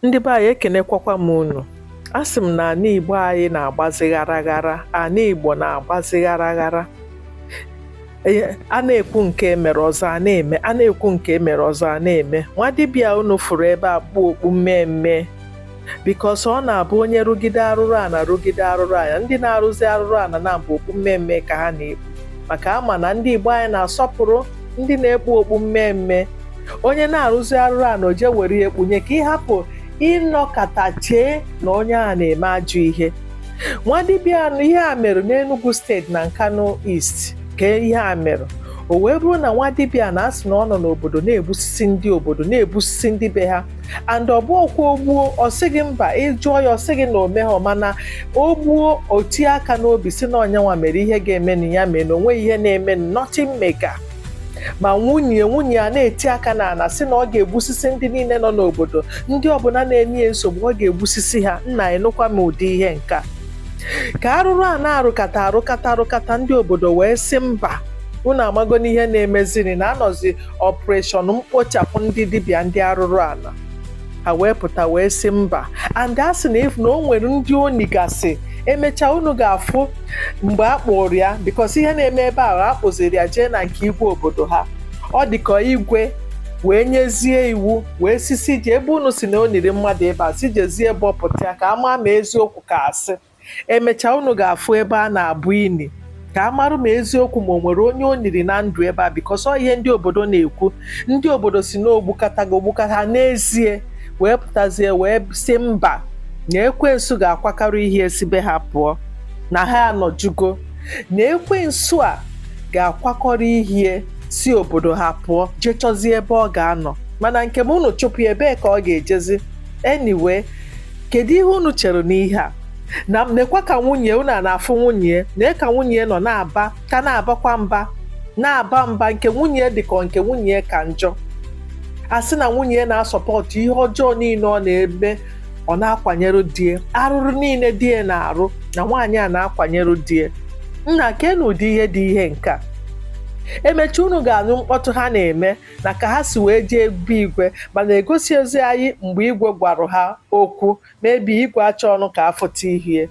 Ndị be anyị ekenekwakwa m unu. Asị m na ana Igbo anyị na-agbazi ghara ghara, ana Igbo na-agbazi ghara ghara. E, a na-ekwu nke mere ọzọ a na-eme a na-ekwu nke mere ọzọ a na-eme nwa dibịa unu fụrụ ebe a kpu okpu mmee mmee because ọ na-abụ onye rụgide arụrụ ana rụgide arụrụ ana ndị na-arụzi arụrụ ana na-abụ okpu mmee mmee ka ha na-ekpu maka a ma na ndị Igbo anyị na-asọpụrụ ndị na-ekpu okpu mmee mmee onye na-arụzi arụrụ ana o je were ya ekpunye ka ị hapụ ịnọkata chee na onye a na-eme ajọ ihe nwa dibịa a ihe a mere n'Enugu steeti na Nkanu East ka ihe a mere o wee bụrụ na nwa dibịa na a sị na ọ nọ n'obodo na-egbusisi ndị obodo na-egbusisi ndị be ha and ọ bụhọkwa o gbuo ọ sị gị mba ị jụọ ya ọ sị gị na o mehọ mana o gbuo o tie aka n'obi sị na ọ nya nwa mere ihe ga-emenụ ya mee na o nweghị ihe na-eme nothing mega ma nwunye nwunye ya na-eti aka n'ana sị na ọ ga-egbusisi ndị niile nọ n'obodo ndị ọbụla na-enye ya nsogbu ọ ga-egbusisi ha nna enụkwa m ụdị ihe nka ka arụrụ ana arụkata arụkata arụkata ndị obodo wee sị mba unu amago n'ihe na-emeziri na a nọzi operation mkpochapụ ndị dibịa ndị arụrụ ana ha wee pụta wee sị mba and a sị na even na o nwere ndị o nigasị emechaa unu ga-afụ mgbe a kpụrụ ya because ihe na-eme ebe ahụ a kpụziri ya jee na nke igwe obodo ha ọ dịka igwe wee nyezie iwu wee sị sị jee ebe unu sị na o niri mmadụ ebe a sị jezie bọpụta ya ka a ma ma eziokwu ka asị Emechaa unu ga-afụ ebe a na-abọ ini ka a marụ ma eziokwu ma o nwere onye o niri na ndụ ebe a because ọ ihe ndị obodo na-ekwu ndị obodo sị na o gbukatago o gbukata n'ezie wee pụtazie wee sị mba na ekwensu ga-akwakọrọ ihe e si be ha pụọ na ha anọjugo na ekwensu a ga-akwakọrọ ihe e si obodo ha pụọ jee chọzie ebe ọ ga-anọ mana nke m unu chụpụ ya ebee ka ọ ga-ejezi anyway kedu ihe unu chere n'ihe a na nekwa ka nwunye unu a na-afụ nwunye nee ka nwunye nọ na-aba ka na-abakwa mba na-aba mba nke nwunye dị ka nke nwunye ka njọ a sị na nwunye na-asupportụ ihe ọjọọ niile ọ na-eme ọ na-akwanyere die arụrụ niile die na-arụ na nwaanyị a na-akwanyere die nna kenụ ụdị ihe dị ihe nke a emechaa unu ga-anụ mkpọtụ ha na-eme na ka ha si wee jee be igwe mana egosihọzi anyị mgbe igwe gwara ha okwu maybe igwe achọhọnụ ka a fụta ihu ya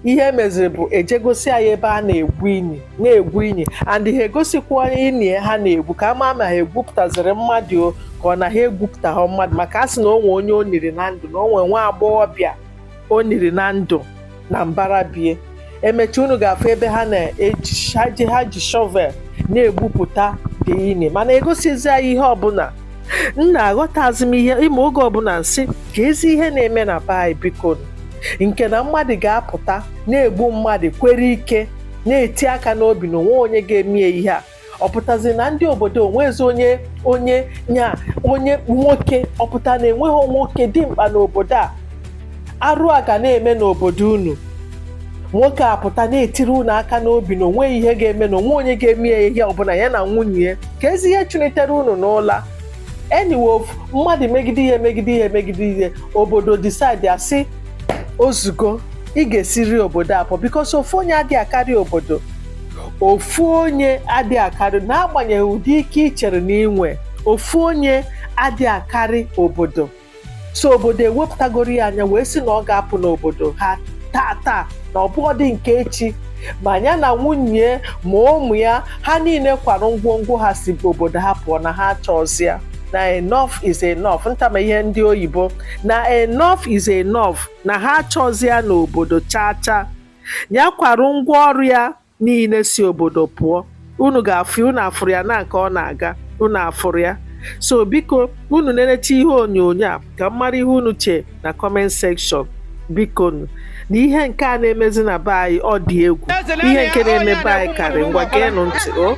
ihe e meziri bụ e je gosi anyị ebe a na-egwu ini na-egwu ini and ha egosikwa ini ha na-egwu ka a ma ma ha egwupụtaziri mmadụ ka ọ na ha egwupụtaghị mmadụ maka a sị na o nwe onye o niri na ndụ na o nwe nwa agbọghọbịa o niri na ndụ na mbara be ya emecha unu ga-afụ ebe ha na-eji ha ji ha ji shovel na-egwupụta the ini mana egosizi anyị ihe ọbụla nna aghọtazi m ihe ịma oge ọbụla m sị kezi ihe na-eme na be anyị biko nke na mmadụ ga-apụta na-egbu mmadụ kwere ike na-eti aka n'obi na onwe onye ga-eme ya ihe a ọ pụtazi na ndị obodo onwezi onye onye nya onye nwoke ọ pụta na enweghị nwoke dimkpa n'obodo a arụ a ga na-eme n'obodo unu nwoke a pụta na-etiri unu aka n'obi na onwe ihe ga-eme na onwe onye ga-eme ya ihe ọbụla ya na nwunye ya kezi ihe chụlitere unu n'ụla anyway mmadụ megide ihe megide ihe megide ihe obodo decide asị o zugo ị ga-esiri obodo apụ because ofu onye adịghị akarị obodo ofu onye adị akarị n'agbanyeghị ụdị ike ị chere na i nwe ofu onye adị akarị obodo so obodo ewepụtagoro ya anya wee sị na ọ ga-apụ n'obodo ha taa taa na ọ bụghịdị nke echi ma ya na nwunye ma ụmụ ya ha niile kwara ngwongwo ha si obodo ha pụọ na ha achọzi ya na enough is enough ntama ihe ndị oyibo na enough is enough na ha achọzi ya n'obodo chaa chaa ya kwara ngwa ọrụ ya niile si obodo pụọ unu ga-afụ unu afụrụ ya na nke ọ na-aga unu afụrụ ya so biko unu nenecha ihe onyonyo a ka m mara ihe unu chee na comment section bikonu na ihe nke a na-emezi na be anyị ọ dị egwu ihe nke na-eme be anyị karị ngwa geenụ ntị o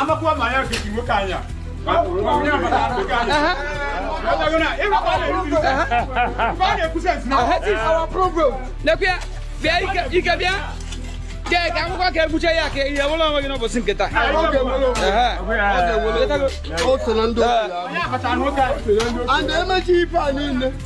amakwa ma ya fiti nwoke anya lekwe bịa ike bịa kee ka akwụkwọ ka ebuche ya ka ihe wụlọ onwe gị n'ụbọchị nke taa o so na ndị otu ya. and emechi ife a niile